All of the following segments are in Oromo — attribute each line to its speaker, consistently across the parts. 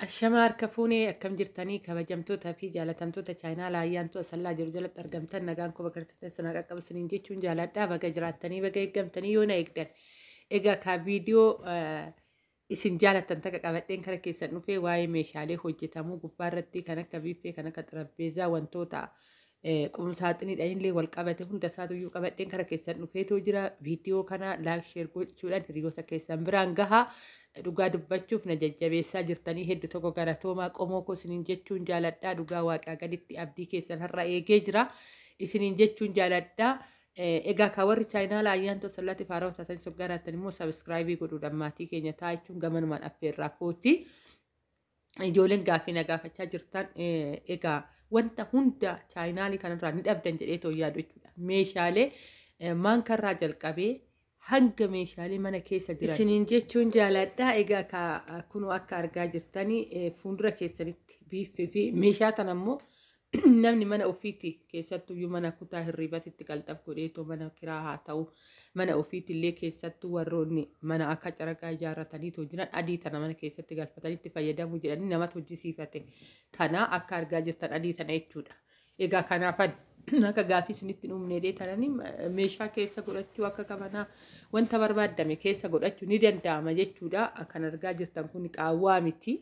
Speaker 1: Ashamaa harka fuunee akkam jirtanii kabajamtoota fi jaalatamtoota chaayinaala ayyaantu asallaa jiru jalatti argamtan nagaan koo bakka jirtan sana qaqqabu isiniin jechuun jaaladhaa baga jiraattanii baga eeggamtanii yoo na eegdan. Egaa kaa viidiyoo isin jaalatan takka qabadheen kara keessan dhufee waa'ee meeshaalee hojjetamuu gubbaa irratti kan akka biiffee kan akka xarapheezaa wantoota Eh, qum saaxiniidhaan illee wal qabate hunda isaatu iyyuu qabadheen kara keessan dhufeetoo jira viidiyoo kana laayik sheer gochuudhaan hiriyoota keessan biraan gaha dhugaa dubbachuuf na jajjabeessaa jirtanii heddu tokko galatoomaa qomoo koo isiniin jechuun jaaladhaa dhugaa waaqaa gaditti abdii keessan har'a eegee jira isiniin jechuun jaaladhaa Eh, egaa kaa warri chaayinaala ayyaantoo sallaatti faaraa taatan soggaraattan immoo sabiskiraayibii godhuudhaan maatii keenya taa'achuun gamanumaan affeerraa kooti. ijoolleen gaaffii na gaafachaa jirtan egaa wanta hunda chaayinaalii kanarraa ni dhabdan jedhee too yaadu jechuudha. Meeshaalee maankarraa jalqabee hanga meeshaalee mana keessa jiran. Isiniin jechuun jaaladha. Egaa ka kunoo akka argaa jirtanii fuuldura keessanitti biiffii fi meeshaa kana immoo namni mana ofiitti keessattuyyuu mana kutaa hirriibatitti qalxaf godheetoo mana kiraa haa ta'u mana ofiitti illee keessattuu warroonni mana akka caraqaa ijaarrataniitoo jiran adii tana mana keessatti galfatanitti fayyadamuu jedhanii namatu hojjisiifate kana akka argaa jirtan adii tana jechuudha. Egaa kanaafan akka gaafii isinitti uumneedhee tananii meeshaa keessa godhachuu akka qabanaa wanta barbaadame keessa godhachuu ni danda'ama jechuudha. Kan argaa jirtan kun qaawwaa miti.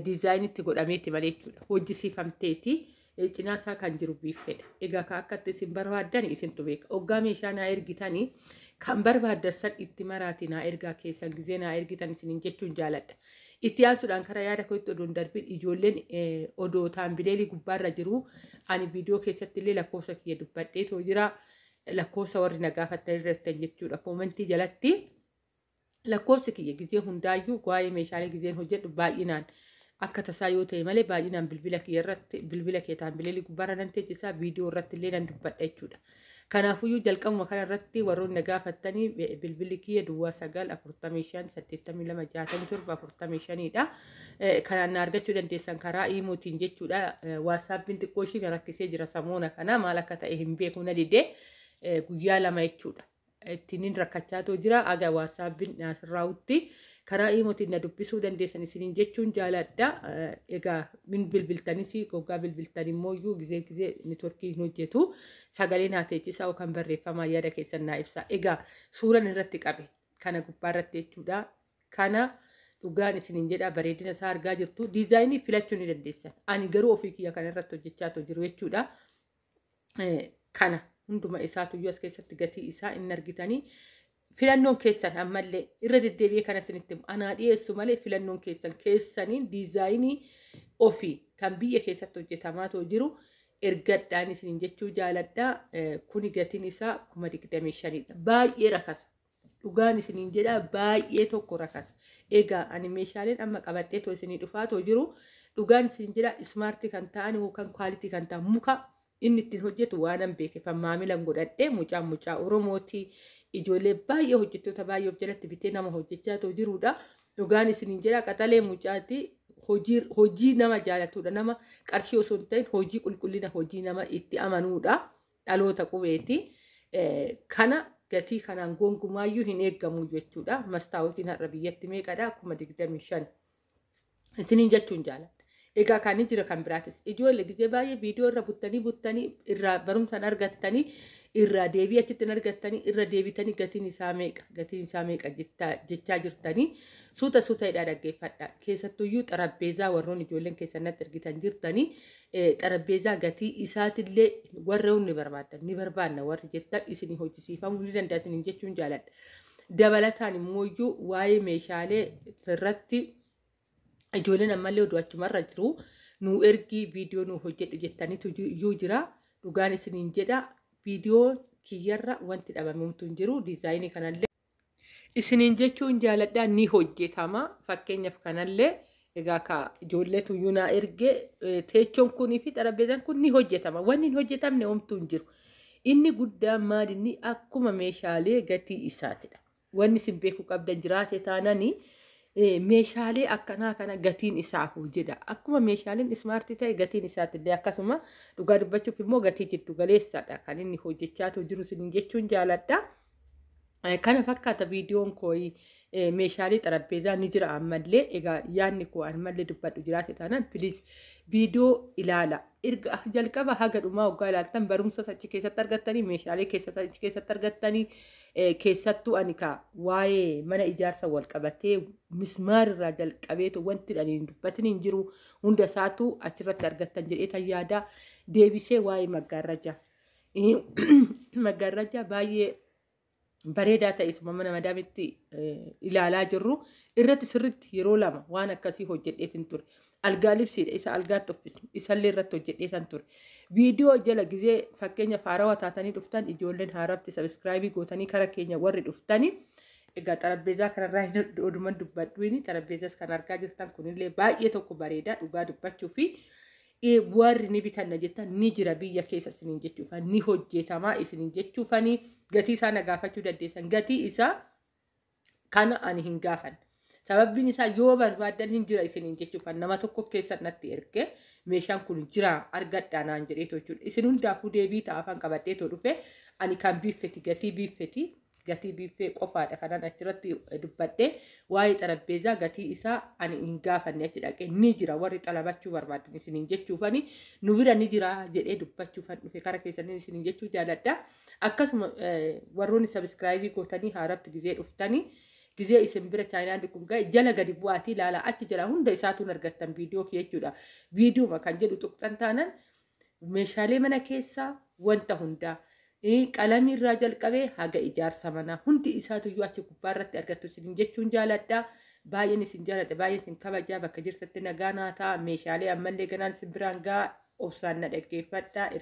Speaker 1: diizaayinii itti godhameeti malee jechuudha. Hojjisiifamteeti. Cinaa isaa kan jiru biiffeedha. Egaa kan akkatti isin barbaaddan isintu beeka. Oggaa meeshaa naa ergitanii kan barbaaddan san itti maraati naa ergaa keessan gizee naa ergitan isinin jechuun jaaladha. Itti aansuudhaan karaa yaada kootti odoon darbiin ijoolleen odoo taambileelii gubbaarra jiru ani viidiyoo keessatti illee lakkoofsa kiyya dubbadheetoo jira. Lakkoofsa warri na gaafattan irratti jechuudha. Koomentii jalatti. Lakkoofsi kiyya gizee hundaayyuu waa'ee meeshaalee gizeen hojjedhu baay'inaan akka tasaa yoo ta'e malee baay'inaan bilbila kiyya irratti bilbila kee taambileelii gubbaarra nan teechisaa viidiyoo irratti illee nan dubbadha jechuudha. Kanaafuyyuu jalqabuma kana irratti warroonni na gaafattanii eh, bilbilli kiyya duwwaa sagal afurtamii shan saddeettamii lama jaatamii torba afurtamii shaniidha. Eh, Kanaan na argachuu dandeessan karaa iimootiin jechuudha. Eh, Waatsaappiin xiqqoo ishii na rakkisee jira samoona kana maal akka ta'e hin beeku na didee eh, guyyaa lama jechuudha. ittinin rakkachaa too jira aga waasaabbiin naasirraawutti karaa iimotiin na dubbisuu dandeessan isiniin jechuun jaalaadha egaa min bilbiltanis goggaa bilbiltan immoo iyyuu gizee gizee networkii hin hojjetu sagalee naa teechisaa yookaan barreeffamaa yaada keessan naa ibsaa egaa suuran irratti qabe kana gubbaa irratti jechuudha kana dhugaan isiniin jedha bareedina isaa argaa jirtu diizaayinii filachuu ni dandeessan ani garuu ofii kiyya kana irratti hojjechaa too jiru jechuudha kana hunduma isaatu iyyuu as keessatti gatii isaa hin argitanii filannoon keessan ammallee irra deddeebi'ee kana isinitti anaa dhiyeessu malee filannoon keessan keessaniin diizaayinii ofii kan biyya keessatti hojjetamaa too jiru ergadhaan isiniin jechuu jaaladha kuni gatiin isaa kuma digdamii shaniidha baay'ee rakasa Dhugaan isiniin jedha baay'ee tokko rakasa. Egaa ani meeshaaleen amma qabadhee too isinii dhufaa too jiru dhugaan isiniin jedha ismaartii kan ta'an yookaan kwaalitii kan ta'an muka inni ittiin hojjetu waanan beekefan maamilan godhadhee mucaan mucaa Oromootii ijoollee baay'ee hojjettoota baay'ee of jalatti bitee nama hojjechaa too jiruudha. Dhugaan isiniin jedha qaxalee mucaati hojii hojii nama jaalatuudha nama qarshii osoo hin ta'in hojii qulqullina hojii nama itti amanuudha. dhaloota qubeeti. Kana gatii kanaan gonkumaayyuu hin eeggamu jechuudha. Mastaawotiin har'a biyyatti meeqadha? kuma digdamii shan. Isiniin jechuun jaaladha. Egaa kan jira kan biraatis ijoollee gizee baay'ee viidiyoo irra buttanii buttanii irraa barumsaan argattanii irraa deebii achitti hin argattanii irra deebitanii gatiin isaa meeqa gatiin isaa meeqa jechaa jirtanii suuta suuta hidhaa dhaggeeffadha. Keessattuyyuu xarabbeezaa warroon ijoolleen keessan natti ergitan jirtanii xarapheezaa gatii isaatillee warroon ni barbaaddan ni barbaadna warri jettan isinii hojjisiifamuu ni danda'a isiniin jechuun jaaladha. Dabalataan immoo iyyuu waa'ee meeshaalee irratti ijoolleen ammallee oduu achumarra jiru nu ergii viidiyoo nu hojjedhu jettaniitu iyyuu jira dhugaan isiniin jedha viidiyoo kiyyarra wanti dhabamumtu hin jiru diizaayinii kanallee. Isiniin jechuun jaaladhaa ni hojjetama fakkeenyaaf kanallee egaa ka ijoolleetu iyyuu naa erge teechoon kunii fi xarapheezaan kun ni hojjetama wanni hin hojjetamne homtuu hin jiru inni guddaan maal inni akkuma meeshaalee gatii isaatidha wanni isin beekuu qabdan jiraate taananii meeshaalee akkanaa kana gatiin isaa hoo jedha akkuma meeshaaleen ismaartii ta'e gatiin isaattillee akkasuma dhugaa dubbachuuf immoo gatii jiddu galeessadha kan inni hojjechaatu jiru isin jechuun jaaladha. Kana fakkaata viidiyoon koo meeshaalee xarapheezaa ni jira ammallee egaa yaadni koo ammallee dubbadhu jiraate taanaan piliis viidiyoo ilaala. Erga jalqaba haga dhumaa waggaa ilaaltan barumsa achi keessatti argattanii meeshaalee keessatti achi keessatti argattanii keessattuu ani kaa waa'ee mana ijaarsa wal qabatee mismaarirraa jalqabeetu wanti ani hin dubbatin hin jiru hunda isaatu achirratti argattan jedhee tan yaadaa deebisee waa'ee maggaarrajaa. maggaarraajaa baay'ee bareedaa ta'e suma mana madaamitti ilaalaa jirru irratti sirritti yeroo lama waan akkasii hojjedheetin ture. Algaa libsiidha isa algaatti uffisnu isallee irratti hojjedheetan ture. Viidiyoo jala gizee fakkeenya faarawa taatanii dhuftan ijoolleen haarafti sabiskiraayibii gootanii kara keenya warri dhuftanii egaa xarabbeezaa kanarraa hin oduman dubbadhuini xarabbeezas kan argaa jirtan kunillee baay'ee tokko bareeda dhugaa dubbachuu fi warri ni bitanna jettan ni jira biyya keessa isiniin jechuufan ni hojjetamaa isiniin jechuufanii gatii isaa na gaafachuu dandeessan gatii isaa kana ani hin gaafan sababbiin isaa yoo barbaaddan hin jira isiniin jechuufan nama tokko keessa natti erge meeshaan kun jira argadhaa naan jedhee jechuudha isin hundaafuu deebii ta'a afaan qabadhee too dhufe ani kan biiffeti gatii biiffeti Gatii biiffee qofaadha kanan achirratti dubbadhe. Waa'ee xarabbeezaa gatii isaa ani hin gaafanne achi dhaqee ni jira warri xalabachuu barbaaddan isiniin jechuufani nu bira ni jira jedhee dubbachuufan dhufe kara keessaniin isiniin jechuu jaaladha. Akkasuma warroonni sabiskiraayibii gootanii haaratti gizee dhuftanii gizee isin bira chaayinaandi kun ga'e jala gadi bu'aatii ilaalaa achi jala hunda isaatuun argattan viidiyoo kee jechuudha. Viidiyooma kan jedhu tuqxan taanan Meeshaalee mana keessaa wanta hundaa qalamii irraa jalqabee haga ijaarsa manaa hundi isaatuyyuu achi gubbaa irratti argattu isin jechuun jaaladha. Baay'een isin jaaladha baay'een isin kabajaa bakka jirtatti nagaa naa ta'a meeshaalee ammallee ganaan isin biraan ga'a obsaan na dhaggeeffadha.